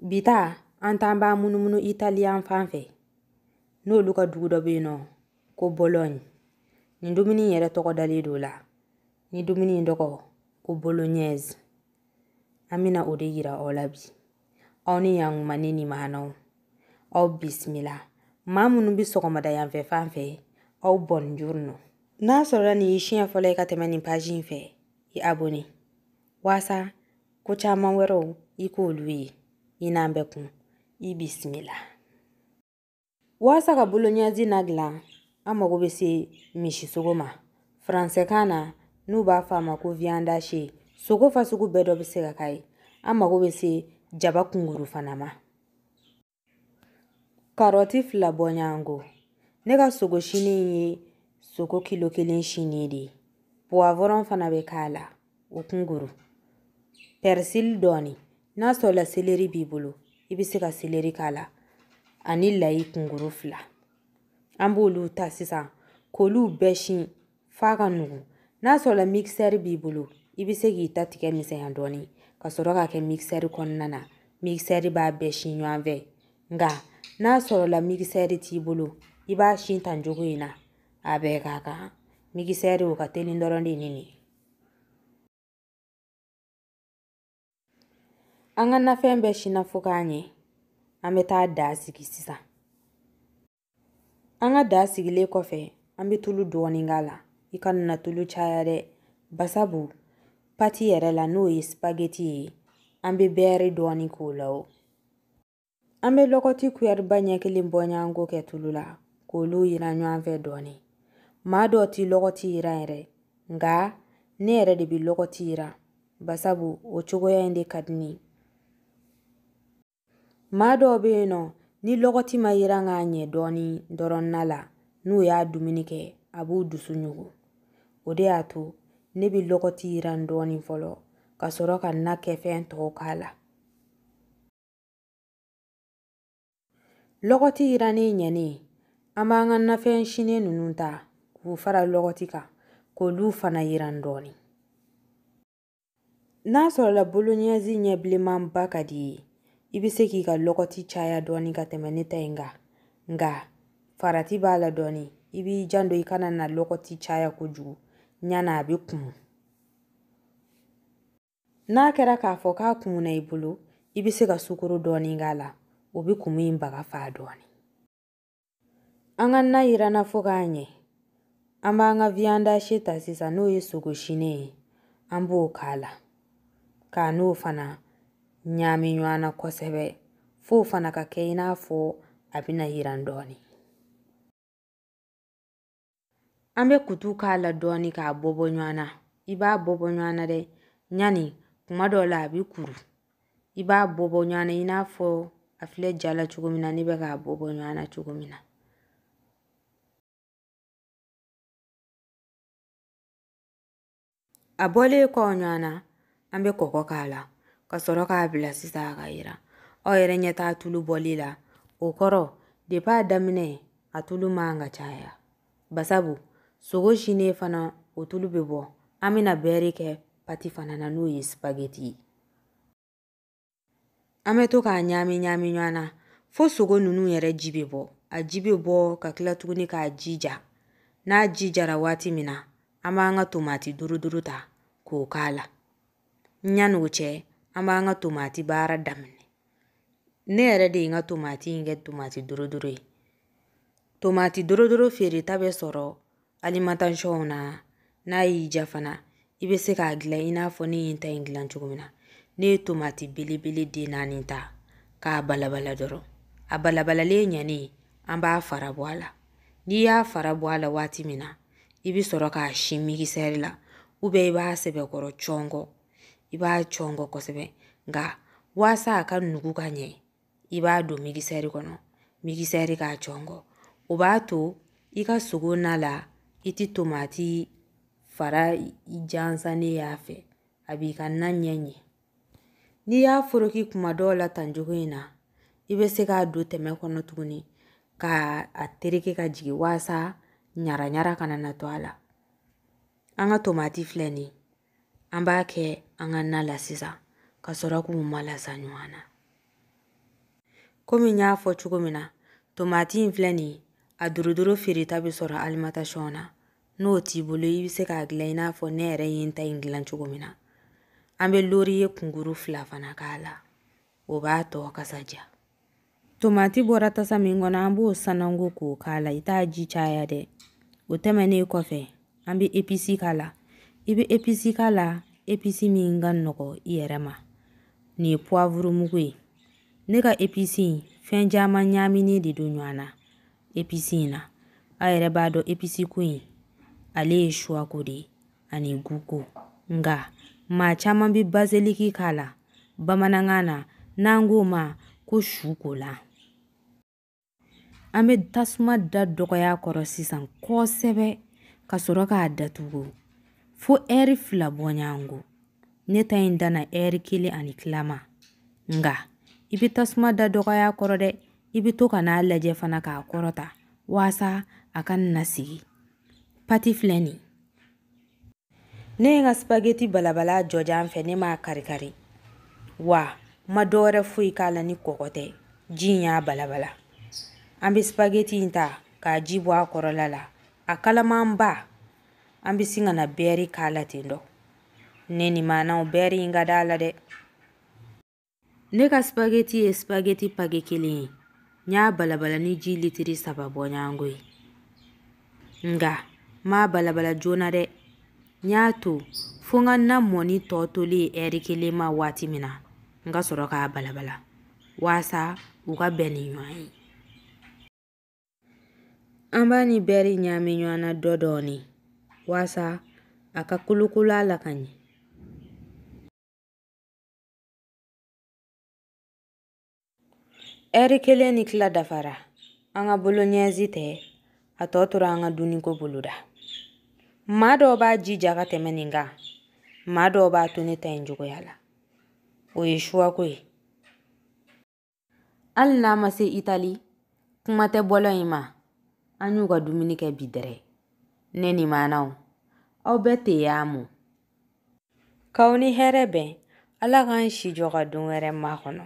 Bi ta an t'an b'a munumunu Italiyan fan fɛ n'olu ka dugu dɔ bɛ yen nɔ ko Bologne nin dumuni in yɛrɛ tɔgɔ dalen don o la ni dumuni in tɔgɔ ko bolognaise an bɛna o de yira aw la bi aw ni yankuma ne ni maanaw aw bisimila maa minnu bɛ sɔgɔmada yanfɛ fan fɛ aw buongiorno n'a sɔrɔla nin y'i siɲɛ fɔlɔ ye ka tɛmɛ nin page in fɛ i abonné waasa ko caman wɛrɛw i k'olu ye i n'an bɛ kun i bisimila waasa ka bolognaise na dilan an mago bɛ se misisogo ma faransɛkan na n'u b'a fɔ a ma ko viande hachée sogo fasugu bɛɛ dɔ bɛ se ka k'a ye an mago bɛ se jaba kunkuru fana ma karɔti fila bɔɲɔgɔnko ne ka sogo sinnen ye sogo kilo kelen sinnen de ye puwavɔrɔn fana bɛ k'a la o kunguru pɛrisili dɔɔni n'a sɔrɔla seleri b'i bolo i bɛ se ka seleri k'a la ani layi kunguru fila an b'olu ta sisan k'olu bɛɛ sin f'a ka nugu n'a sɔrɔla mixeur b'i bolo i bɛ se k'i ta tigɛ misɛnya dɔɔnin ka sɔrɔ k'a kɛ mixeur kɔnɔna na mixeur b'a bɛɛ si ɲɔgɔn fɛ nka n'a sɔrɔla mixeur t'i bolo i b'a si tan cogo in na a bɛɛ ka kan mixeur o ka teli dɔrɔn de ni nin An ka nafɛn bɛɛ sinna fo k'a ɲɛ an bɛ taa da sigi sisan an ka da sigilen kɔfɛ an bɛ tulu dɔɔnin k'a la i kana na tulu caya dɛ basabu pati yɛrɛ la n'o ye sipageti ye an bɛ bɛɛri dɔɔnin k'o la o An bɛ lɔgɔti kuyɛriba ɲɛ kelen bɔɲɔgɔnko kɛ tulu la k'olu yiran ɲɔgɔn fɛ dɔɔnin maa dɔw tɛ lɔgɔti yiran yɛrɛ nka ne yɛrɛ de bɛ lɔgɔti yiran basabu o cogoya in de ka di ne ye maa dɔw bɛ yen nɔ ni lɔgɔti ma yiran k'a ɲɛ dɔɔnin dɔrɔn na la n'u y'a dumuni kɛ a b'u dusu ɲugu o de y'a to ne bɛ lɔgɔti yiran dɔɔnin fɔlɔ ka sɔrɔ ka na kɛ fɛn tɔw k'a la Lɔgɔti yirannen ɲɛnen an b'an ka nafɛn sinnen ninnu ta k'u fara lɔgɔti kan k'olu fana yiran dɔɔnin n'a sɔrɔla bolognaise ɲɛ bilenmanba ka di i ye i bɛ se k'i ka lɔgɔti caya dɔɔnin ka tɛmɛ ne ta in kan nka farati b'a la dɔɔnin i b'i janto i kana na lɔgɔti caya kojugu ɲana a bɛ kumu n'a kɛra k'a fɔ k'a kumuna i bolo i bɛ se ka sukoro dɔɔni k'a la o bɛ kumu in baga fa dɔɔni an ka na yiranna fo ka ɲɛ an b'an ka viyandashi ta sisan n'o ye sogo sinen ye an b'o k'a la k'a n'o fana ɲaami ɲɔgɔn na kosɛbɛ f'o fana ka kɛ i n'a fɔ a bɛna yiran dɔɔni an bɛ kutu k'a la dɔɔni k'a bɔ bɔ ɲɔgɔn na i b'a bɔ bɔ ɲɔgɔn na dɛ yanni kuma dɔw la a bɛ kuru i b'a bɔ bɔ ɲɔgɔn na i n'a fɔ a filɛ ja la cogo min na ne bɛ k'a bɔ bɔ ɲɔgɔn na cogo min na a bɔlen kɔ ɲɔgɔn na an bɛ kɔkɔ k'a la ka sɔrɔ k'a bila sisan a ka yiran aw yɛrɛ ɲɛ t'a tulu bɔli la o kɔrɔ depi a daminɛ a tulu man ka caya basabu sogo sinen fana o tulu bɛ bɔ an bɛna bɛɛri kɛ pati fana na n'o ye sipageti ye an bɛ to k'a ɲaami ɲaami ɲɔgɔn na fo sogo ninnu yɛrɛ ji bɛ bɔ a ji bɛ bɔ ka tila tuguni k'a ji ja n'a ji jara waati min na an b'an ka tomati duruduru ta k'o k'a la yanni o cɛ an b'an ka tomati baara daminɛ ne yɛrɛ de ye n ka tomati in kɛ tomati duruduru ye tomati duruduru feereta bɛ sɔrɔ alimantasɔnw na n'a y'i diya fana i bɛ se k'a dilan i n'a fɔ ne ye n ta in dilan cogo min na ne ye tomati belebele den naani ta k'a balabala dɔrɔn a balabalalen ɲɛnen an b'a fara bɔ a la n'i y'a fara bɔ a la waati min na i bɛ sɔrɔ k'a si migisɛri la ubiyɛn i b'a sɛbɛkɔrɔ cɔngɔ i b'a cɔngɔ kosɛbɛ nka waasa a ka nugu ka ɲɛ i b'a don migisɛri kɔnɔ migisɛri k'a cɔngɔ o b'a to i ka sogo na la i tɛ tomati fara jansannen y'a fɛ a b'i ka na ɲɛ ɲɛ n'i y'a foroki kuma dɔw la tan cogo in na i bɛ se k'a don tɛmɛ kɔnɔ tuguni k'a tereke ka jigin waasa ɲaraɲara kana na to a la an ka tomati filɛ nin ye an b'a kɛ an ka na la sisan ka sɔrɔ k'u malasa ɲɔgɔn na komi n y'a fɔ cogo min na tomati in filɛ nin ye a duruduru feereta bɛ sɔrɔ alimantasɔn na n'o t'i bolo i bɛ se k'a dilan i n'a fɔ ne yɛrɛ ye n ta in dilan cogo min na an bɛ loriye kunkurun fila fana k'a la o b'a tɔ kasa diya tomati bɔra tasa min kɔnɔ an b'o sananko k'o k'a la i t'a ji caya dɛ o tɛmɛnen kɔfɛ an bɛ episi k'a la i bɛ episi k'a la episi min ka nɔgɔ i yɛrɛ ma nin ye puwavuru mugu ye ne ka episi in fɛn caman ɲaaminen de don ɲɔgɔn na episi in na a yɛrɛ b'a dɔn episi ko in ale ye suwa ko de ye ani gu ko nka maa caman bɛ baziliki k'a la bamanankan na n'an k'o ma ko sukolan an bɛ tasuma da dɔgɔya kɔrɔ sisan kosɛbɛ ka sɔrɔ k'a datugu fo ɛri fila bɔɲɔgɔnko ne ta in danna ɛri kelen ani tila ma nka i bɛ tasuma da dɔgɔya kɔrɔ dɛ i bɛ to ka n'a lajɛ fana k'a kɔrɔta waasa a kana sigi pati filɛ nin ne ye n ka spageti balabala jɔjan fɛ ne m'a karikari wa ma dɔ wɛrɛ foyi k'a la ni kɔgɔ tɛ ji in y'a balabala an bɛ spageti in ta k'a ji bɔ a kɔrɔla la a kalamanba an bɛ sin ka na bɛɛri k'a la ten dɔ ne ni maanaw bɛɛri in ka d'a la dɛ ne ka spageti ye spageti pake kelen ye n y'a balabala ni ji litiri saba bɔɲɔgɔnko ye nka n m'a balabala joona dɛ n y'a to fo n ka na mɔni tɔ tolen ɛri kelen ma waati min na n ka sɔrɔ k'a balabala waasa u ka bɛn ni ɲɔgɔn ye an b'a ni bɛɛri ɲaami ɲɔgɔn na dɔ dɔɔni waasa a ka kolokolo a la ka ɲɛ Ɛri kelen ni tila dafara an ka boloɲɛzi tɛ a tɔ tora an ka dunniko boloda maa dɔw b'a ji ja ka tɛmɛ nin kan maa dɔw b'a to ne ta in cogoya la o ye shuwa ko ye hali n'an ma se itali kuma tɛ bɔlɔɲi ma an y'u ka dumuni kɛ bi dɛrɛ ne ni maanaw aw bɛɛ ti amo k'aw ni hɛrɛ bɛn ala k'an si jɔ ka don wɛrɛ makɔnɔ